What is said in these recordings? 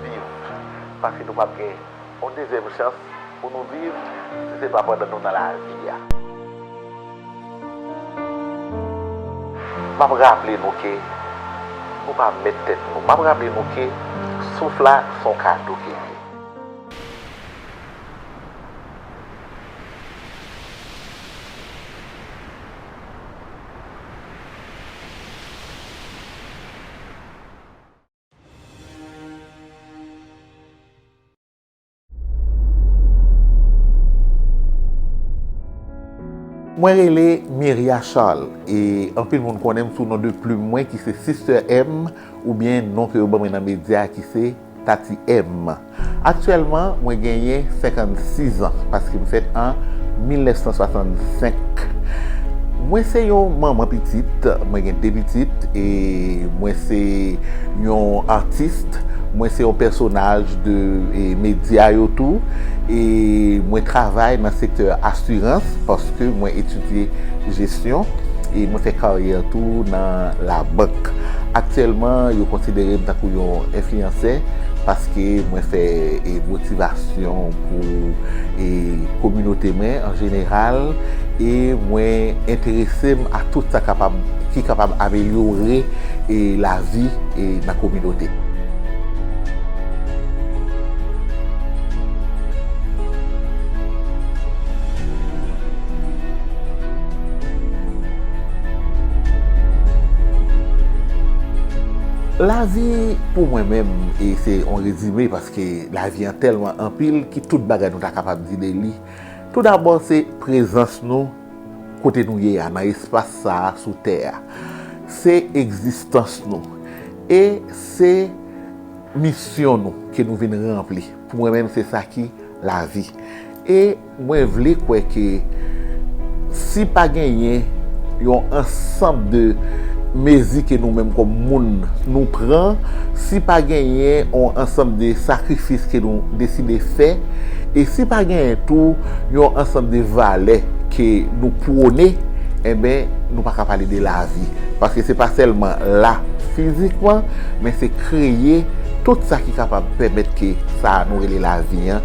Viv, paske nou pap gen yon dezyèm chans pou nou viv si se pa pandan nou nan lavi a. Map raple nou ke nou pa mèt tèt nou. Map raple nou ke souf la se yon kado ke l ye. Mwen rele Miria Charles e anpil moun konnen m sou non de plim mwen ki se Sister M oubyen non ke yo ban mwen nan medya ki se. Tati M, Aktyèlman, mwen genyen 56 an, paske m fèt an 1965. Mwen se yon manman pitit, mwen gen 2 pitit e mwen se yon atis. Mwen se yon pèsonaj de medya yo tou e mwen travay nan sektè asirans paske mwen etidye jesyon e mwen fè karyè tou nan labank. Aktyèlman, yo konsidere m tankou yon enfliyansè paske mwen fè motivasyon pou kominote mwen an jeneral e mwen enterese m a tout sa kapab, ki kapab amelyore lavi nan kominote. Lavi pou mwen menm e se yon rezime paske lavi an tèlman anpil ki tout bagay nou ta kapab di de li. Tou dabò se prezans nou kote nou ye a nan espas sa a sou tè a. Se egzistans nou e se misyon nou ke nou vin ranpli. Pou mwen menm se sa ki lavi. Mwen vle kwè ke si pa genyen yon ansanb de mezi ke nou menm kòm moun nou pran, si pa genyen yon ansanb de sakrifis ke nou deside fè, e si pa genyen tou yon ansanb de valè ke nou pwone, enben nou pa ka pale de lavi. Paske se pa sèlman la fizikman, men se kreye tout sa ki kapab pèmèt ke sa a nou rele lavi an,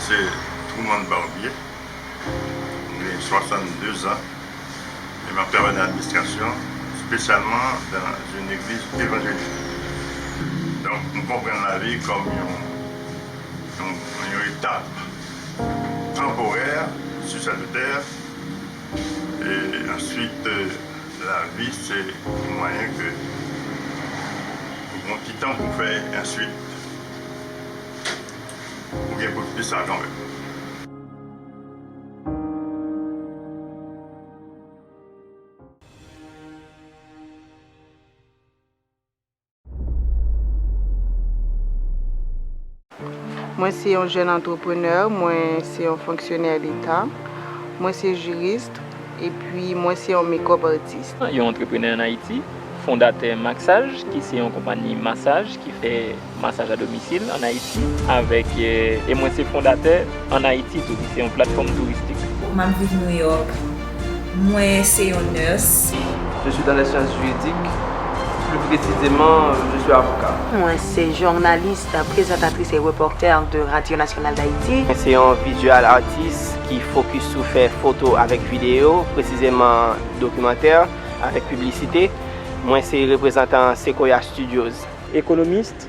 Mwen se Truman Barbier, m gen 62 zan e m ap travay nan administrasyon, spesyalman dan yn egliz evanjelik. Donk m konprann lavi kòm yon etap tanporè sou sèt etè e answit lavi se yon mwayen ke ou gen yon ti tan pou fè answit. Ou gen pou di sa kanmenm. Mwen se yon jèn antreprenè, mwen se yon fonksyonè leta, mwen se jurist epi mwen se yon makeup artist. Yon antreprenè an Ayiti, fondatè Maksaj ki se yon konpani masaj ki fè. Masaj a domisil an Ayiti avèk e mwen se fondatè an Ayiti tou ki se yon platfòm touristik. M ap viv New York. Mwen se yon nurse. Je suis dans les sciences juridiques, plus précisément je suis avocat. Mwen se journaliste, prezantatris e reporter de Radio Nationale d'Haïti. Mwen se yon visual artist ki focus sou fè foto avèk video, presizeman dokimantè avèk piblisite. Mwen se reprezantan Sequoia Studios. Ekonomist,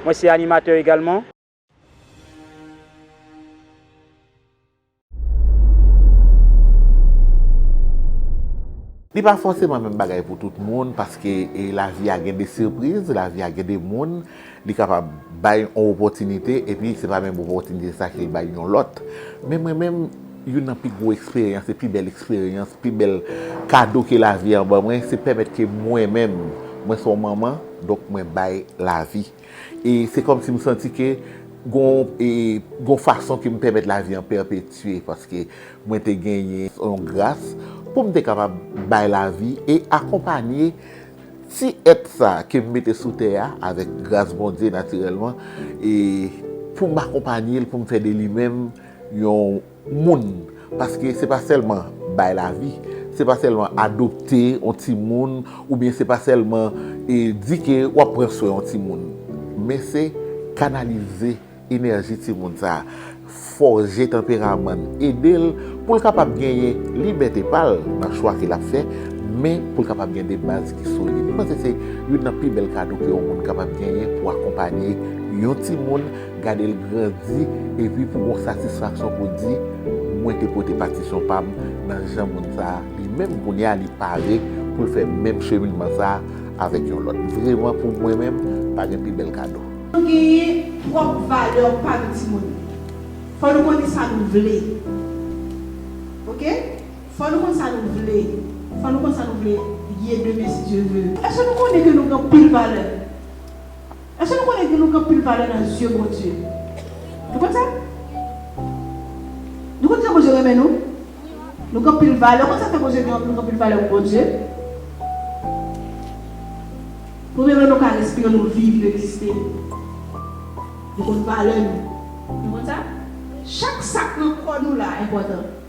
mwen se animatè egalman. Li pa fòseman menm bagay pou tout moun paske lavi a gen de sipriz, lavi a gen de moun li kapab bay yon opòtinite epi se pa menm opòtinite sa ke l bay yon lòt. Men mwen menm. Youn nan pi gwo eksperyans e pi bèl eksperyans, pi bèl kado ke lavi an ban mwen, se pèmèt ke mwen menm, mwen se yon manman, donk mwen bay lavi. E se kòm si m santi ke gon e gon fason ke m pèmèt lavi an pèpetye, paske mwen te genyen yon gras pou m te kapab bay lavi e akonpanye ti èt sa ke m mete sou tè a, avèk gras Bondye natirèlman, e pou m akonpanye l, pou m fè de li menm, yon moun paske se pa sèlman bay lavi se pa sèlman adopte yon timoun oubyen se pa sèlman e di ke wap pran swen yon timoun men se kanalize enèji timoun sa fòje tanperamann edel poul kapab genyen libète pal nan chwa ke lap fè men poul kapab gen de baz ki solid mwen panse se youn nan pi bèl kado ke yon moun kapab genyen pou akonpanye yon timoun. Gade l grandi epi pou gon satisfaksyon pou di mwen te pote patisyon pa m nan jan moun sa a li menm kounye a li pare pou l fè menm cheminman sa a avèk yon lòt. Vreman pou mwen menm pa gen pi bèl kado. Nou genyen pwòp valè pa nou timoun. Fò nou konnen sa nou vle ok fò nou konn sa nou vle fò nou konn sa nou vle ye demen si Dye ve. Èske nou konnen ke nou gen anpil valè? Èske nou konnen ke nou gen anpil valè nan zye Bondye? Nou konn sa? Nou konn jan Bondye renmen nou? Nou gen anpil valè. Ou konn sa fè Bondye gen, nou gen anpil valè pou Bondye? Premye bagay nou ka respire, nou viv, nou egziste. Li konn valè nou. Nou konn sa? Chak sa k nan kò nou la enpòtan.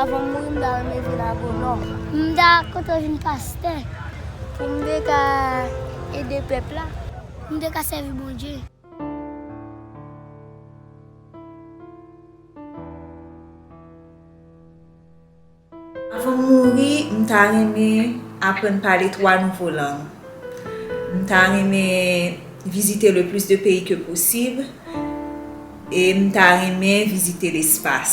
Avan m mouri m ta renmen vin agonòm. M ta kontan vin pastè pou m te ka ede pèp la, pou m te ka sèvi Bondye. Avan m mouri, m ta renmen aprann pale twa nouvo lang. M ta renmen vizite le plis de peyi ke posib e m ta renmen vizite lespas.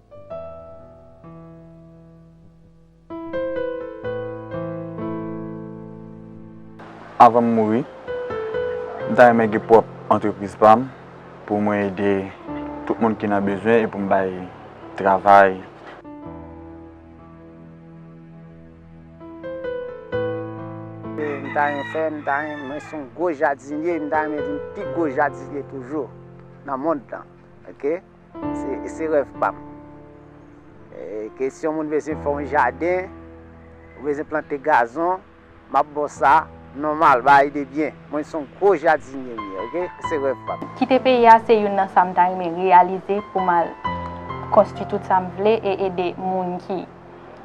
Avan m mouri, m ta renmen gen pwòp antrepriz pa m pou mwen ede tout moun ki nan bezwen e pou m bay travay. M ta renmen fè, m ta renmen, mwen se yon gwo jadinye, m ta renmen vin pi gwo jadinye toujou nan mond lan. Se rèv pa m. Kesyon moun bezwen fè yon jaden, ou bezwen plante gazon, m ap ba w sa, nòmal, bagay de byen. Mwen se yon gwo jadinye m ye, oke, se rèv pa m. Kite peyi a se youn nan sa m ta renmen reyalize pou m al konstwi tout sa m vle e ede moun ki.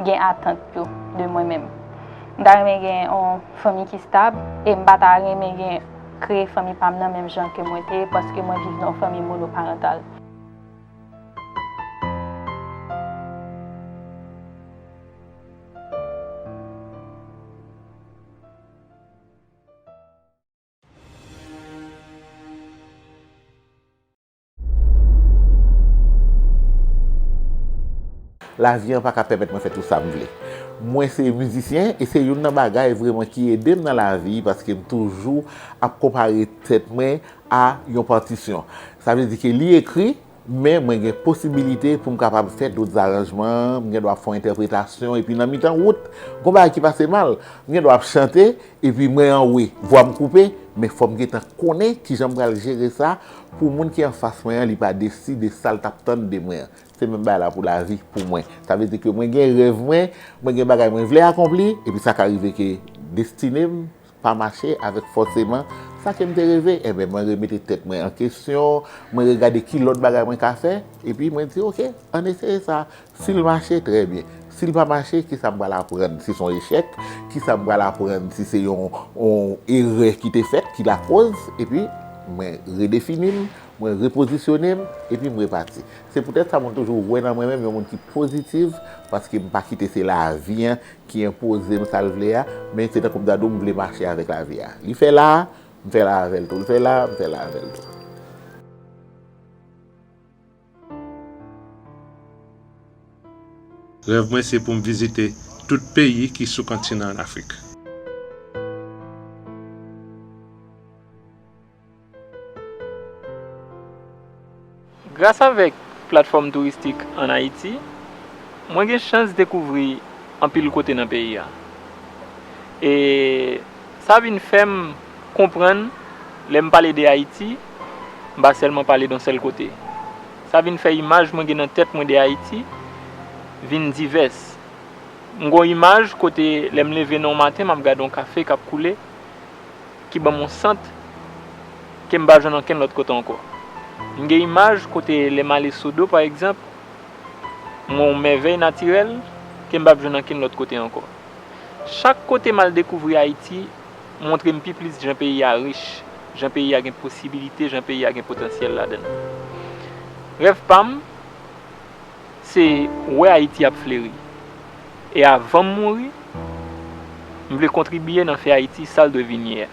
gen atant yo de mwen menm. M ta renmen gen yon fanmi ki stab e m pa ta renmen gen kreye fanmi pa m nan menm jan ke mwen te paske mwen viv nan yon fanmi monoparantal. Lavi an pa ka pèmèt mwen fè tout sa m vle. Mwen se mizisyen e se youn nan bagay vreman ki ede m nan lavi paske m toujou ap konpare tèt mwen a yon patisyon. Sa vle di ke li ekri, men mwen gen posibilite pou m kapab fè dout zaranjman, m gen dwa fè yon entèpretasyon epi nan mitan wout, gon bagay ki pase mal, m gen dwa ap chante Epi mwen anwe, vwam koupe, men fòm gentan konnen kijan m pral jere sa pou moun ki anfas mwen an li pa desi de sal tap tann de mwen an. Se menm bagay la pou lavi pou mwen. Sa vle di ke mwen gen rèv mwen, mwen gen bagay mwen vle akonpli, epi sa ka rive ke destine m pa mache avèk fòseman sa ke m te reve, enben mwen remete tèt mwen an kesyon, mwen regade ki lòt bagay mwen ka fè, epi mwen di ok, ann eseye sa, Si l mache, trè byen. Si l pa mache, ki sa m pral aprann? Si s on echèk, ki sa m pral aprann? Si se yon erè ki te fèt ki lakoz, epi mwen redefini m, mwen repozisyone m, epi m repati. Se poutèt sa moun toujou wè nan mwen menm yon moun ki pozitiv, paske m pa kite se lavi an ki enpoze m sa l vle a, men se tankou m ta di w m vle mache avèk lavi a. Li fè la a, m fè la a avè l tou. Li fè la a, m fè la a avè l tou. Rèv mwen se pou m vizite tout peyi ki sou kontinan Afrik. Gras avèk platfòm touristik an Ayiti, mwen gen chans dekouvri anpil kote nan peyi a. E. Sa vin fè m konprann lè m pale de Ayiti, m pa sèlman pale don sèl kote. Sa vin fè imaj mwen gen nan tèt mwen de Ayiti vin divès. M gen yon imaj kote lè m leve nan yon maten m ap gade yon kafe k ap koule ki ban m yon sant ke m pa jwenn ankenn lòt kote ankò. M gen imaj kote lè m ale Sodo pa egzanp m wè yon mèvèy natirèl ke m p ap jwenn ankenn lòt kote ankò. Chak kote m al dekouvri Ayiti montre m pi plis jan peyi a rich, jan peyi a gen posibilite, jan peyi a gen potansyèl ladan l. Rèv pa m se wè Ayiti ap fleri. E avan m mouri, m vle kontribye nan fè Ayiti sa l dwe vin ye a.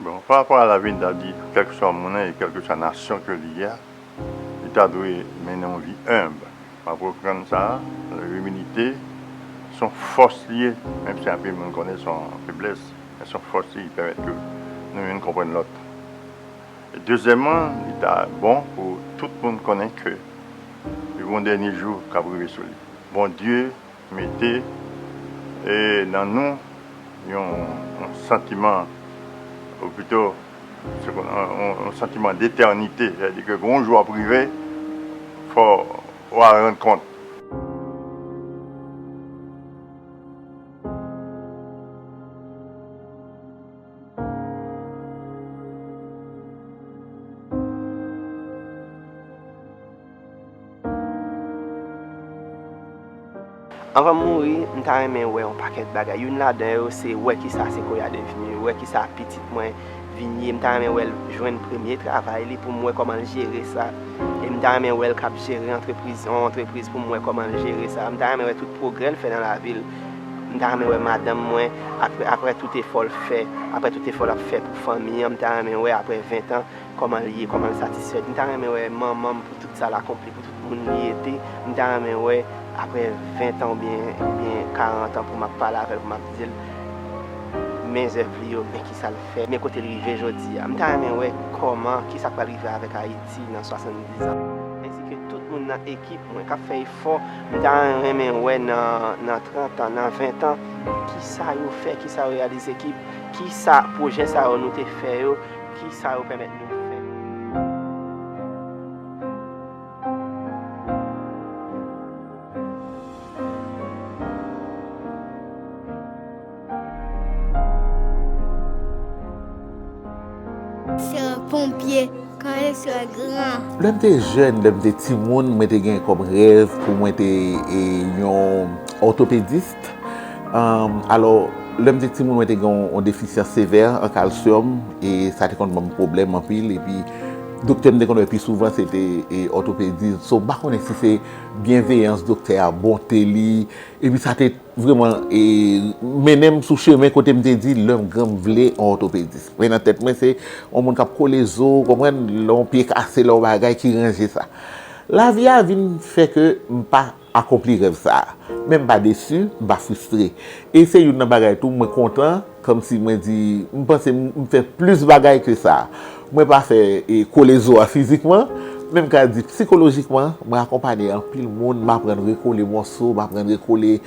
Bon, pa rapò a Labib ta di kèlkeswa moun nan e kèlkeswa nasyon ke li ye a, li ta dwe mennen yon vi enb. M ap reprann sa a, imilite s on fòs li ye, menm si anpil moun konnen s on feblès, men s on fòs li, li pèmèt ke nou youn konprann lòt. E dezyèmman, li ta bon pou tout moun konnen ke gen yon dènye jou k ap rive sou li. Bondye. Mete nan nou yon santiman, ou pito yon santiman detènite, sa vle di ke yon jou ap rive fò ou al rann kont. Anvan m mouri, m ta renmen wè yon pakèt bagay. Youn ladan yo se wè kisa Sequoia devenu, wè kisa pitit mwen vin ye. M ta renmen wè l jwenn premye travay li pou m wè kòman l jere sa. E m ta renmen wè l k ap jere antrepriz, yon antrepriz pou m wè kòman l jere sa. M ta renmen wè tout pwogrè l fè nan lavi l. M ta renmen wè madanm mwen, apre tout efò l fè, apre tout efò l ap fè pou fanmi an, m ta renmen wè apre ventan, Koman l ye, koman l satisfèt. M ta renmen wè manman m pou tout sa l akonpli, pou tout moun li ete. M ta renmen wè aprè ventan oubyen karantan pou m ap pale avè l pou m ap di l men zèv li yo, men kisa l fè, men kote l rive jodi a. M ta renmen wè koman, kisa k pral rive avèk Ayiti nan 70 an. Ensi ke tout moun nan ekip mwen k ap fè efò. M ta renmen wè nan 30 an, nan 20 an, kisa yo fè, kisa yo reyalize, kisa pwojè sa yo nou te fè yo. Ki sa yo pèmèt nou fè? Lè m te jèn, lè m te timoun, mwen te gen kòm rèv pou mwen te yon òtopedis. Alò, lè m te timoun mwen te gen yon defisyans sevè an kalsyòm e sa te konn ban m pwoblèm anpil epi doktè m te konn wè pi souvan se te òtopedis. So m pa konnen si se byenveyans doktè a, bonte li epi sa te vreman mennen m sou chemen kote m te di lè m gran m vle yon òtopedis. Men nan tèt mwen se yon moun k ap kole zo, ou konprann, lè yon pye kase, lè yon bagay ki ranje sa. Lavi a vin fè ke m pa. akonpli rèv sa a. Men m pa desi, m pa fristre. E se youn nan bagay tou mwen kontan, kòmsi mwen di, m panse m fè plis bagay ke sa. Mwen pa fè kole zo a fizikman, men m ka di psikolojikman, mwen akonpanye anpil moun, m aprann rekole mòso, m aprann rekole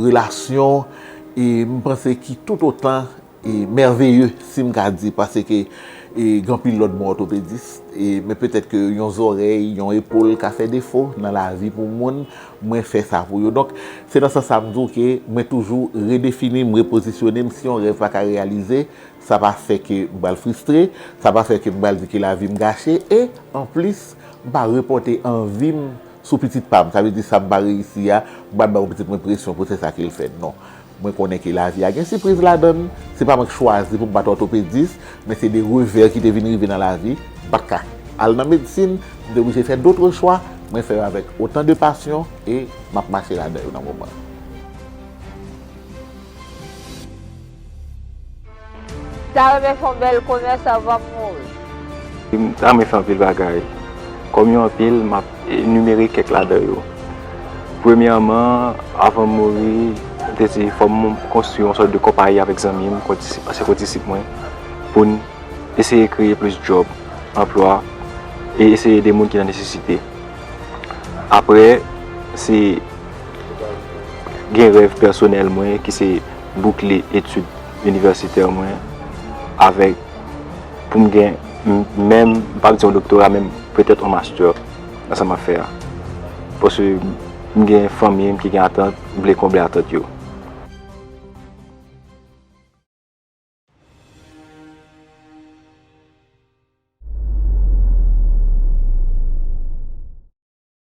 relasyon, e m panse ki toutotan. E mèveye si m ka di pase ke e gen anpil lòt bon òtopedis e men petèt ke yon zòrèy, yon epol ka fè defo nan lavi pou moun, mwen fè sa pou yo. Donk, se nan sans sa m di w ke mwen toujou redefini, m repozisyone m. Si yon rèv pa ka reyalize, sa pa fè ke m pral fristre, sa pa fè ke m pral di ke lavi m gache e anplis m pa repòte anvi m sou pitit pa m. Sa vle di sa m pa reyisi a, m pa bay yon pitit mwen presyon pou se sa ke l fè, non. Mwen konnen ke lavi a gen sipriz ladan l, se pa mwen k chwazi pou m pa t òtopedis, men se de revè ki te vin rive nan lavi, m pa t ka al nan medsin, m te oblije fè dotre chwa, mwen fè yo avèk otan de pasyon e m ap mache ladan yo nan moman. Ta renmen fon bel komès avan m mouri. M ta renmen fè anpil bagay. Kòm yo anpil, m ap enimere kèk ladan yo. Premyèman, avan m mouri, m te di fò m konstwi yon sòt de konpayi avèk zanmi m, ansyen kondisip mwen, pou n eseye kreye plis djòb, anplwa, e eseye ede moun ki nan nesesite. Aprè, se gen rèv pèsonèl mwen ki se. boukle etid inivèsitè mwen avèk pou m gen menm, m pap di yon doktora men petèt yon mastè nan sa m ap fè a. Paske m gen fanmi m ki gen atant, m vle konble atant yo.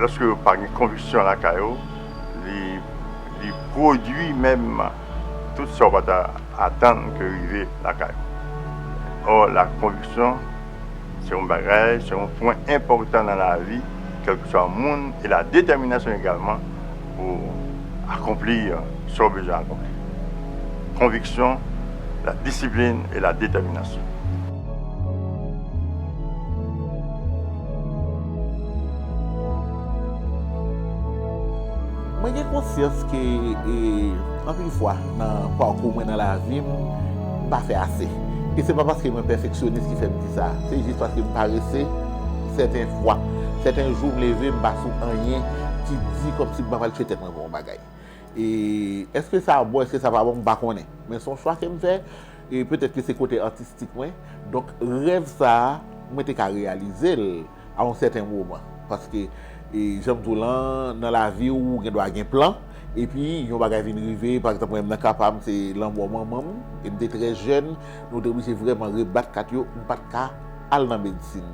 Lòske yo pa gen konviksyon lakay yo, li pwodui menm tout sa ou pa ta atann ke rive lakay ou. Ò, lakonviksyon se yon bagay, se yon pwen enpòtan nan lavi kèlkeswa moun e ladetèminasyon egalman. Pou w akonpli sa w bezwen akonpli. Konviksyon, la disiplin e la detèminasyon. Mwen gen konsyans ke anpil fwa nan pakou mwen nan lavi m, m pa fè ase. E se pa paske mwen pèfeksyonis ki fè m di sa. Se jis paske m parese. Sèten fwa, sèten jou m leve m pa sou anyen ki di kòmsi m pa pral tchwe tèt mwen pou yon bagay. E èske sa bon èske sa pa bon m pa konnen. Men son chwa ke m fè e petèt ke se kote atistik mwen. Donk rèv sa a mwen te ka reyalize l a yon sèten moman. Paske e jan m di w lan nan lavi ou gen dwa gen plan. E pi yon bagay vin rive pa egzanp mwen nan ka pa m se lanmò manman m e m te trè jèn nou te oblije vrèman rebat kat yo m pat ka al nan medsin.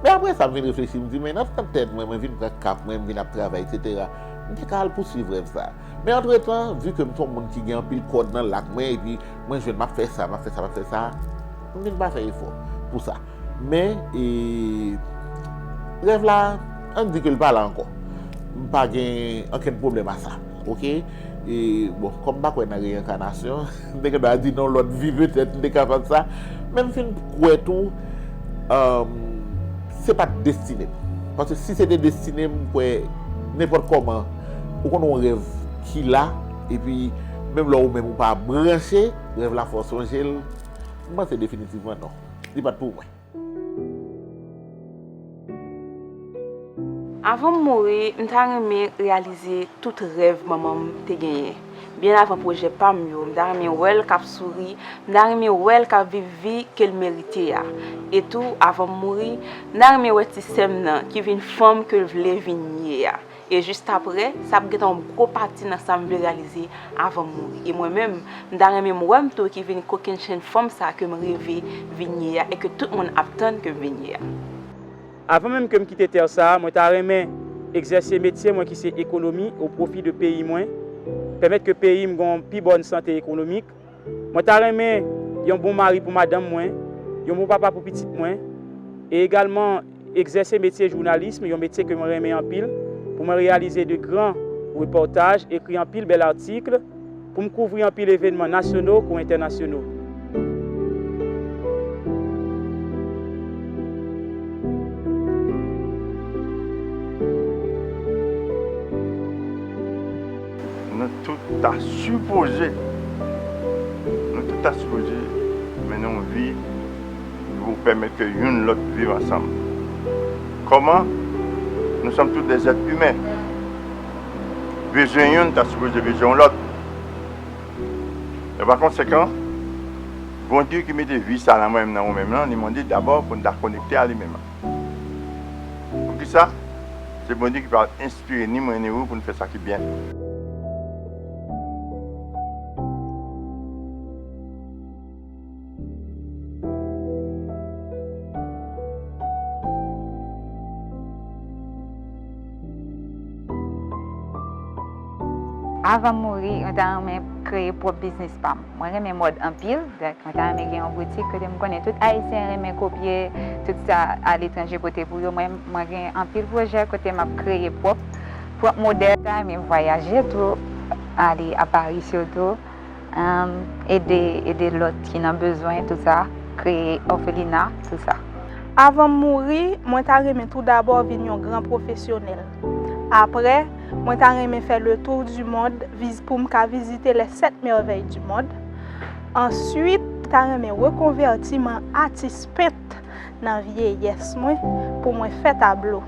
Men apre sa m vin reflechi m di men nan tan tèt mwen, mwen vin pran kap mwen, m vin ap travay eksetera, m te ka al pouswiv rèv sa. Men antretan, vi ke m se yon moun ki gen anpil kòd nan lak mwen epi mwen jwenn m ap fè sa, m ap fè sa, m ap fè sa, m vin pa fè efò pou sa. Men e rèv la, an n di ke l pa la ankò. M pa gen ankenn pwoblèm a sa. Ok? E bon, kòm m pa kwè nan reyenkanasyon, m te gen dwa di non lòt vi petèt m te kapab sa. Men m fin kwè tou se pa t destine m. Paske si se te destine m, m kwè nenpòt kòman ou konn yon rèv ki la epi menm lè ou menm ou pa branche, rèv la fè w sonje l. M panse definitivman non. Li pa t pou mwen. Avan m mouri, m ta renmen reyalize tout rèv manman m te genyen. Byen avan pwojè pa m yo, m ta renmen wè l k ap souri, m ta renmen wè l k ap viv vi ke l merite a. E tou, avan m mouri, m ta renmen wè ti sè m nan ki vin fanm ke l vle vin ye a. E jistaprè, sa ap gen yon gwo pati nan sa m vle reyalize avan m mouri. E mwen menm, m ta renmen m wè m tou ki vin kokennchenn fanm sa ke m reve vin ye a e ke tout moun ap tann ke m vin ye a. Avan menm ke m kite tè sa a, mwen ta renmen egzèse metye mwen ki se ekonomi o pwofi de peyi mwen, pèmèt ke peyi m gen yon pi bòn sante ekonomik, Mwen ta renmen yon bon mari pou madanm mwen, yon bon papa pou pitit mwen, e egalman egzèse metye jounalism, yon metye ke mwen renmen anpil, pou mwen reyalize de gran repòtaj, ekri anpil bèl atikl, pou m kouvri anpil evenman nasyono kou entènasyono. Nou tout ta sipoze Nou tout ta sipoze mennen yon vi ki pou pèmèt ke youn lòt viv ansanm. Kòman? Nou sòm tout dè zèt imen. Bezwen youn ta sipoze bezwen yon lòt. E pa konsekan, Bondye ki mete vi sa nan mwen menm, nan ou menm lan, li mande dabò pou n ta konekte a li menm. Poukisa? Se Bondye ki pral Enspire ni mwen ni ou pou n fè sa ki byen. Avan m mouri, mwen ta renmen kreye pwòp biznis pa m. Mwen renmen mòd anpil, donk mwen ta renmen gen yon boutik kote m konnen tout Ayisyen renmen kopye tout sa aletranje pote pou yo. Mwen gen anpil pwojè kote m ap kreye pwòp modèl. Mwen ta renmen vwayaje tou, ale a Pari sitou, ede lòt ki nan bezwen tout sa, kreye òfelina, tout sa. Avan m mouri, mwen ta renmen tou dabò vin yon gran pwofesyonèl. Apre, mwen ta renmen fè le tour du monde viz poum ka vizite les 7 merveilles du monde. Answit, mwen ta renmen rekonvèti m an atis pent nan vyeyès mwen pou mwen fè tablo.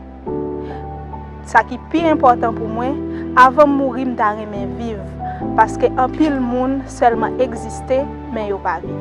Sa ki pi enpòtan pou mwen, avan m mouri m ta renmen viv, paske anpil moun sèlman egziste men yo pa viv.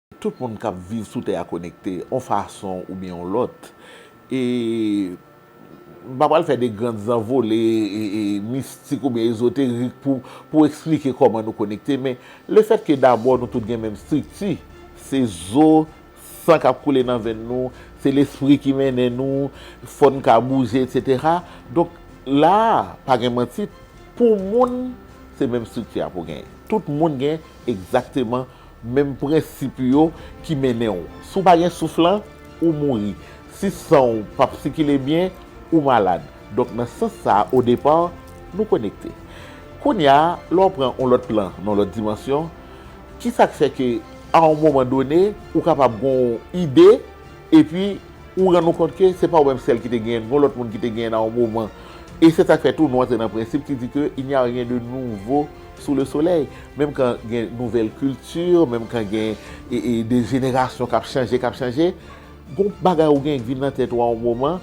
Tout moun k ap viv sou tè a konekte, yon fason oubyen yon lòt. E m pa pral fè de gran zanvole mistik oubyen ezoterik pou esplike kòman nou konekte, men lefètke dabò nou tout gen menm estrikti, se zo, san k ap koule nan venn nou, se lespri ki mennen nou, fò n ka bouje, etsetera. Donk, la a, pa gen manti, pou moun, se menm estrikti a pou w genyen. Tout moun gen egzakteman Menm prensip yo ki mennen w. Si w pa gen souf lan, ou mouri. Si san w p ap sikile byen, ou malad. Donk nan sans sa a, o depa, nou konekte. Kounye a, lè w pran yon lòt plan, yon lòt dimansyon, ki sa k fè ke a yon moman done, ou kapab gen yon ide, epi ou rann ou kont ke se pa ou menm sèl ki te genyen l, gen yon lòt moun ki te genyen l a yon moman. E se sa k fè tou nou antre nan prensip ki di ke il n'y a rien de nouveau. Sous le soleil, menm kan gen nouvèl kilti, menm kan gen de jenerasyon k ap chanje, k ap chanje, gon bagay ou gen ki vin nan tèt ou a yon moman,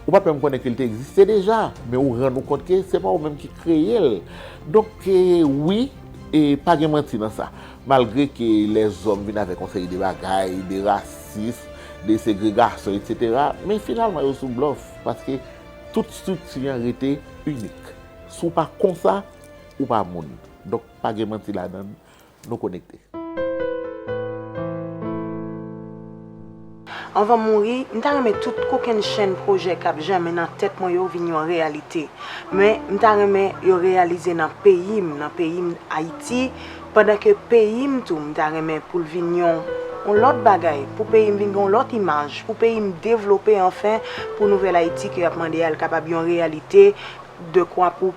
ou pa t menm konnen ke l te egziste deja, men ou rann ou kont ke se pa ou menm ki kreye l. Donk ke wi, e pa gen manti nan sa. Malgre ke lèzòm vin avèk yon seri de bagay, de rasis, de segregasyon, etsetera, men finalman yo sou blòf, paske tout estrikti an rete inik. Si w pa kon sa. Ou pa moun. Donk pa gen manti ladann. Nou konekte. Anvan m mouri, m ta renmen tout kokenn chenn pwojè k ap jèmen nan tèt mwen yo vin yon reyalite. Men, m ta renmen yo reyalize nan peyi m, nan peyi m Ayiti, pandan ke peyi m tou m ta renmen pou l vin yon yon lòt bagay, pou peyi m vin gen yon lòt imaj, pou peyi m devlope anfen, pou nouvèl Ayiti ke y ap mande a l kapab yon reyalite dekwa pou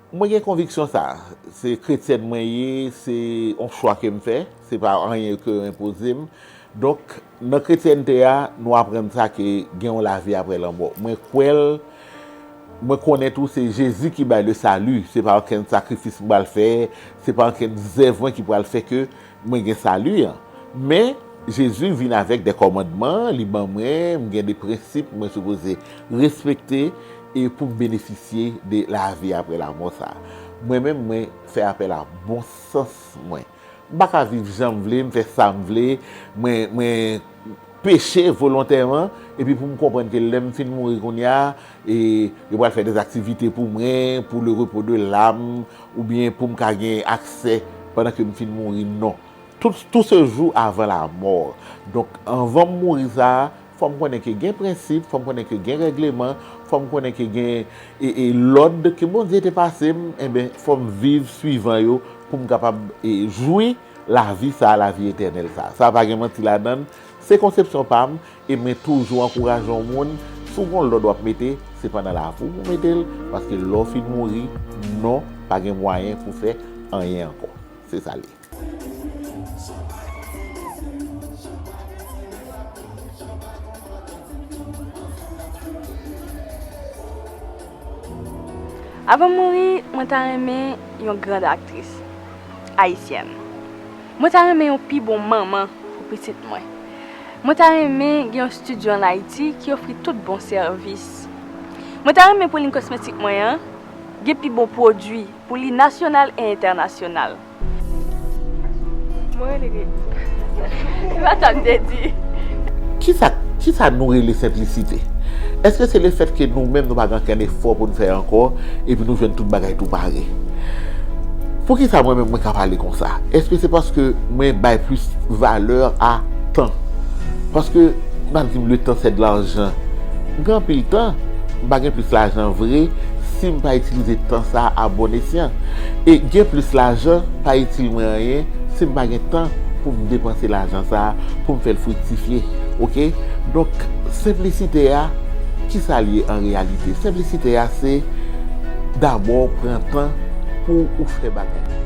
Mwen gen konviksyon sa, se kretyèn mwen ye, se yon chwa ke m fè, se pa anyen ke yo enpoze m. Donk, nan kretyènte a, nou aprann sa ke gen yon lavi aprè lanmò. Mwen kwè l, mwen konnen tou se Jezi ki bay le salut, se pa ankenn sakrifis m pral fè, se pa ankenn zèv mwen ki pral fè ke Mwen gen sali an. Men, Jezi vin avèk de kòmandman, li ban mwen, m gen de prensip mwen sipoze respekte e pou m benefisye de lavi aprè lamò sa a. Mwen menm, mwen fè apèl a bon sans mwen. M pa ka viv jan m vle, m fè sa m vle, mwen, mwen. peche volontèman epi pou m konprann ke lè m fin mouri kounya e yo pral fè des aktivite pou mwen pou le repo de lam oubyen pou m ka gen aksè pandan ke m fin mouri non tout se jou avan la mò donk anvan m mouri sa fò m konnen ke gen prensip fò m konnen ke gen règleman fò m konnen ke gen e lòd ke Bondye te pase m enben fò m viv swivan yo pou m kapab e jwi. Lavi sa a, lavi etènèl sa a. Sa pa gen manti ladan l, se konsepsyon pa m, e mwen toujou ankouraje yon moun, si w gon lòd w ap mete, se pandan lavi w pou w mete l, paske lè w fin mouri, non, pa gen mwayen pou w fè anyen ankò. Se sa l ye. Avan m mouri, mwen ta renmen yon grand aktris. Ayisyèn. Mwen ta renmen yon pi bon manman pou pitit mwen. Mwen ta renmen gen yon studio an Ayiti ki ofri tout bon sèvis. Mwen ta renmen pou lin kosmetik mwen an gen pi bon pwodui pou li nasyonal e entènasyonal. Mwen rele Gretty. Se pa sa m te di. Kisa, kisa nou rele senplisite? Eske se le fèt ke nou menm nou pa gen ankenn efò pou n fè ankò epi nou jwenn tout bagay tou pare? Poukisa mwen menm mwen ka pale konsa? Eske se paske mwen bay plis valè a tan? Paske n ap di m le tan sè de larjan. M gen anpil tan, m pa gen plis lajan vre si m pa itilize tan sa a bon esyan. E gen plis lajan pa itil mwen anyen si m pa gen tan pou m depanse lajan sa a, pou m fè l friktifye. Oke? Donk, senplisite a, ki sa l ye an reyalite? Senplisite a se dabò pran tan. pou ou fè bagay yo.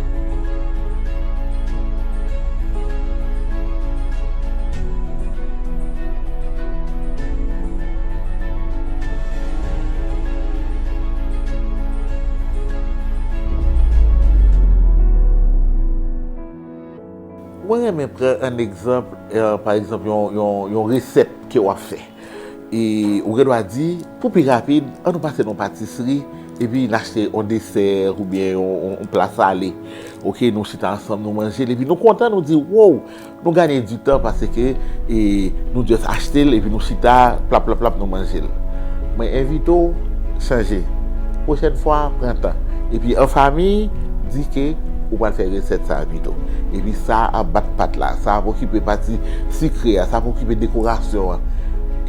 Mwen renmen pran an egzanp, pa egzanp yon resèt ke w ap fè. E ou gen dwa di, pou pi rapid, an nou pase nan yon patisri, epi n achte yon desè, oubyen yon pla sale. Ok, nou chita ansanm, nou manje l, epi nou kontan, nou di, wow, nou ganye di tan, paske nou just achte l, epi nou chita, plap plap plap, nou manje l. Mwen envite w, chanje. Pwochèn fwa, pran tan. Epi an fami, di ke ou pral fè resèt sa a pito. Epi sa ap bat pat la, sa ap okipe pati. Sikre a, sa pou okipe dekorasyon an.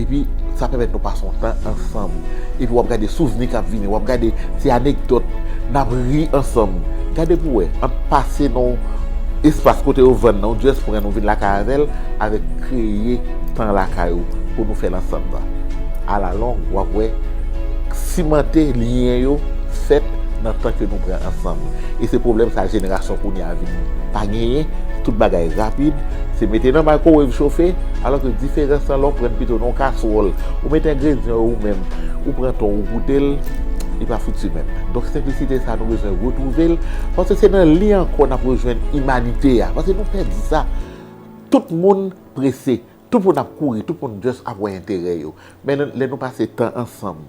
Epi, sa pèmèt nou pase yon tan ansanm. Epi w ap gade souvni k ap vini, w ap gade ti anekdòt, n ap ri ansanm. Gade pou w wè, ant pase nan yon espas kote yo vann nan, ou jès pran l, ou vin lakay avè l, avèk kreye tan lakay ou pou nou fè l ansanm nan. Alalong, w ap wè, simante lyen yo fèt nan tan ke nou pran ansanm. E se pwoblèm sa jenerasyon kounye a vin pa genyen, tout bagay rapid. Se mete nan microwave chofe, alò ke diferans lan lè w prann pito nan yon kaswòl, ou mete engredyan yo ou menm, ou pran tan w ou goute l, li pa fouti menm. Donk senplisite sa nou bezwen retwouve l, paske se nan li ankò n ap rejwenn imanite a, paske nou pèdi sa. Tout moun prese, tout moun ap kouri, tout moun just ap wè enterè yo. Men lè nou pase tan ansanm,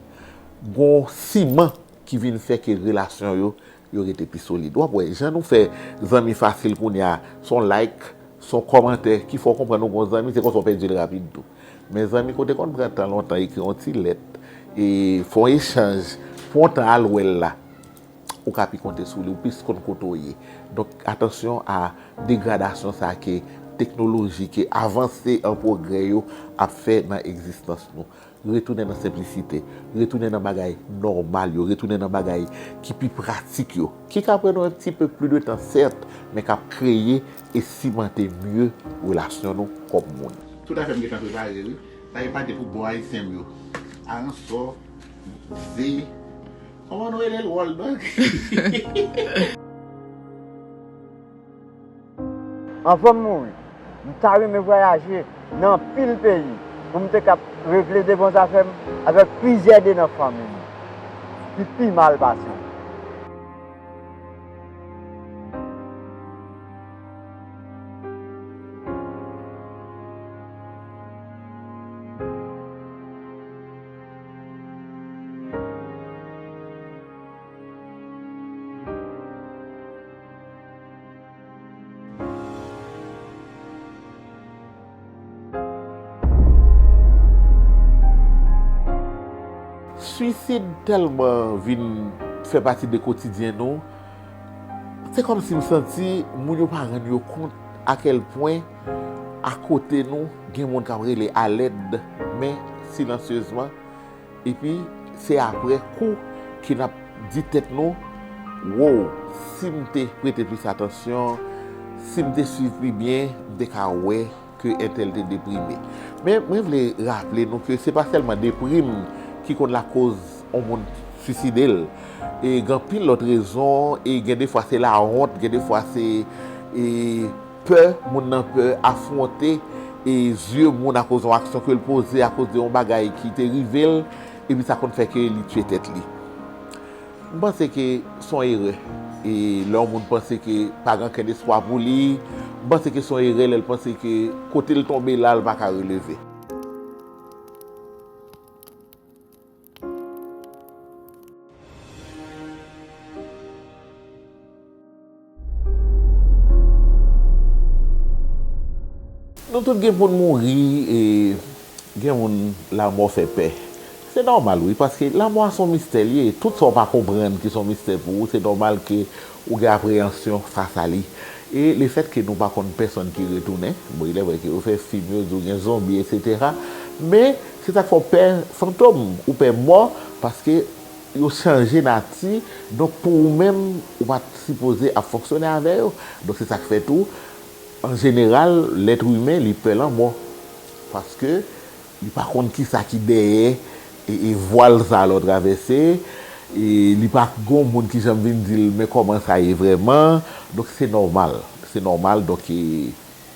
gon siman ki vin fè ke relasyon yo Yo rete pi solid. Wap wè jan nou fè zanmi fasil kounya son like, son kòmantè ki fè w konprann ou gon zanmi se konsa w pèdi l rapid tou. Men zanmi kote konn pran tan lontan ekri yon ti lèt e fè yon echanj, pran yon tan al wè l la, ou ka pi konte sou li, ou plis konn kote w ye. Donk atansyon a degradasyon sa ke teknoloji, ke avanse an pwogrè yo ap fè nan egzistans nou. Retounen nan senplisite, retounen nan bagay nòmal yo, retounen nan bagay ki pi pratik yo, ki ka pran nou un petit peu plus de tan sèt, men kap kreye e simante mye relasyon nou kòm moun. Tout afem gentan prepare wi. Sa yo pa de pou bo ayisyen m yo. Aransò, ze, koman nou rele l wòl dòg? Anvan m mouri, m ta renmen vwayaje nan anpil peyi pou m te kab regle de bon zafè m avèk plizyè de nan fanmi m ki pi mal pase m. Swisid tèlman vin fè pati de kotidyen nou, se kòm si m santi moun yo pa rann yo kont akèl pwen akote nou gen moun k ap rele alèd men silansyezman. Epi se aprè kou ke n ap di tèt nou, Woww, si m te prete plis atansyon, si m te suiv pi byen, m te ka wè ke entèl te deprime. Men, mwen vle raple nou ke se pa sèlman deprim ki konn lakoz yon moun suiside l. Gen anpil lòt rezon, e gen defwa se lawont, gen defwa se. Pè moun nan pè afwonte e zye moun akoz yon aksyon ke l poze, akoz de yon bagay ki te rive l, epi sa konn fè ke li tye tèt li. M panse ke s on erè e lè yon moun panse ke pa gen ankenn espwa pou li, m panse ke s on erè lè l panse ke kote l tonbe la, l pa ka releve. Nou tout gen pou n mouri e gen moun lanmò fè pè. Se nòmal wi, paske lanmò a se yon mistè li ye. Tout sa w pa konprann ki se yon mistè pou ou, se nòmal ke ou gen apreyansyon fas a li. E lefètke nou pa konn pèsonn ki retounen, bon ilèvre ke yo fè fim yo di w gen zonbi eksetera, men. Se sak fè w pè fantom, ou pè mò paske yo chanje nati donk pou ou menm ou pat sipoze ap fonksyone avè yo donk se sak fè tou an jeneral lèt imen li pè lanmò paske li pa konn kisa ki dèyè vwal sa lè w travèse li pa gon moun ki janm vin di l men kòman sa ye vrèman donk se nòmal se nòmal donk.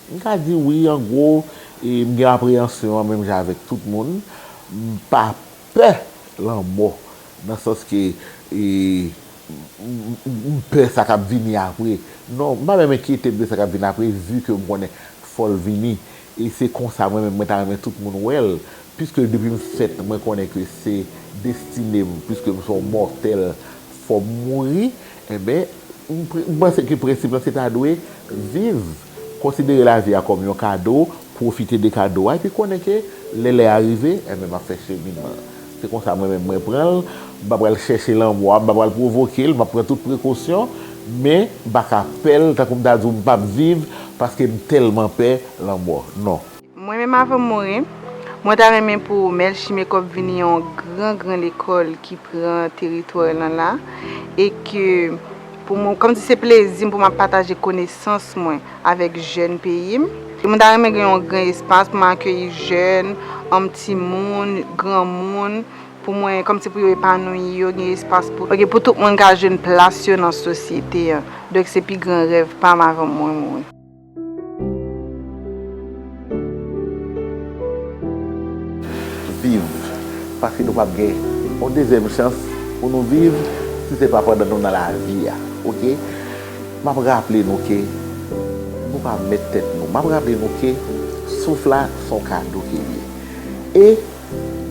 M ka di wi an gwo, e m gen apreyansyon an menm jan avèk tout moun. M pa pè lanmò nan sans ke e m pè sa k ap vini apre. Non, m pa menm enkyete m de sa k ap vini apre vi ke m konnen fò l vini. E se konsa mwen menm mwen ta renmen tout moun wè l. Piske depi m fèt mwen konnen ke se destine m, piske m se yon mòtèl fò m mouri. Enben, m panse ke prensip lan se ta dwe viv, konsidere lavi a kòm yon kado, pwofite de kado a, epi konnen ke lè lè a rive, enben m ap fè cheminman. Se konsa mwen menm mwen pran l, m pa pral chèche lanmò a, m pa pral pwovoke l, m ap pran tout prekosyon, men m pa ka pè l tankou m ta di w m p ap viv paske m tèlman pè lanmò. Non. Mwen menm avan m mouri, mwen ta renmen pou Melchie Mekòb vini yon gran gran lekòl ki pran teritwa lan la e ke pou mwen, kòm si se plezi m pou m ap pataje konesans mwen avèk jèn peyi m. E mwen ta renmen gen yon gran espas pou m akeyi jèn, anm timoun, granmoun, pou mwen, kòm si pou yo epanouyi yo, gen espas pou. Ok, pou tout moun ka jwenn plas yo nan sosyete an. Donk se pi gran rèv pa m avan mwen mouri. Viv paske nou pap gen yon dezyèm chans pou nou viv si se pa pandan nou nan lavi a ok map raple nou ke nou pa mèt tèt nou map raple nou ke souf la se yon kado ke li ye e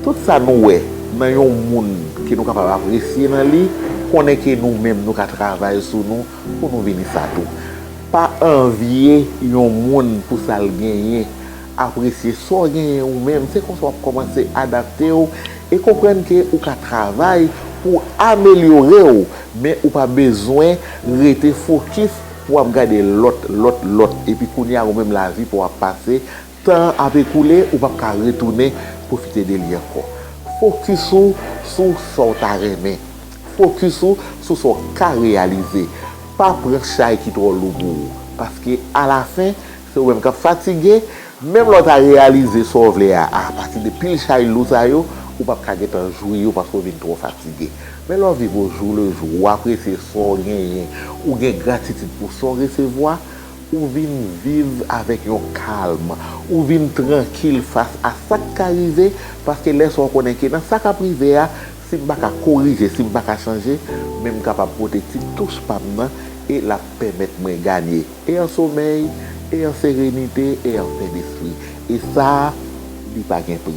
tout sa nou wè nan yon moun ke nou kapab apresye nan li konnen ke nou menm nou ka travay sou nou pou nou vini sa tou. Pa anvye yon moun pou sa l genyen, apresye sa w genyen ou menm, se konsa w ap kòmanse adapte w e konprann ke ou ka travay pou w amelyore w, men ou pa bezwen rete fokis pou w ap gade lòt, lòt, lòt epi kounye a ou menm lavi pa w ap pase Tan an ap ekoule, ou pap ka retounen pwofite de li ankò. Fokis ou sou sa w ta renmen. Fokis ou sou sa w ka reyalize. Pa pran chay ki twò lou pou ou. Paske alafen, se ou menm k ap fatige, menm lè w ta reyalize sa w vle a apati de pil chay lou sa yo, ou pap ka gentan jwi yo paske w vin twò fatige. Men lè w viv ojou lejou, ou apresye sa w genyen, ou gen gratitid pou sa w resevwa, Ou vin viv avèk yon kalm. Ou vin trankil fas a sa k ka rive, paske lè sa w konnen ke nan sa k ap rive a, si m pa ka korije, si m pa ka chanje, men m kapab pote ti touch pa m nan e l ap pèmèt mwen ganye e an somèy, e an serenite, e an pè despri. E sa, li pa gen pri.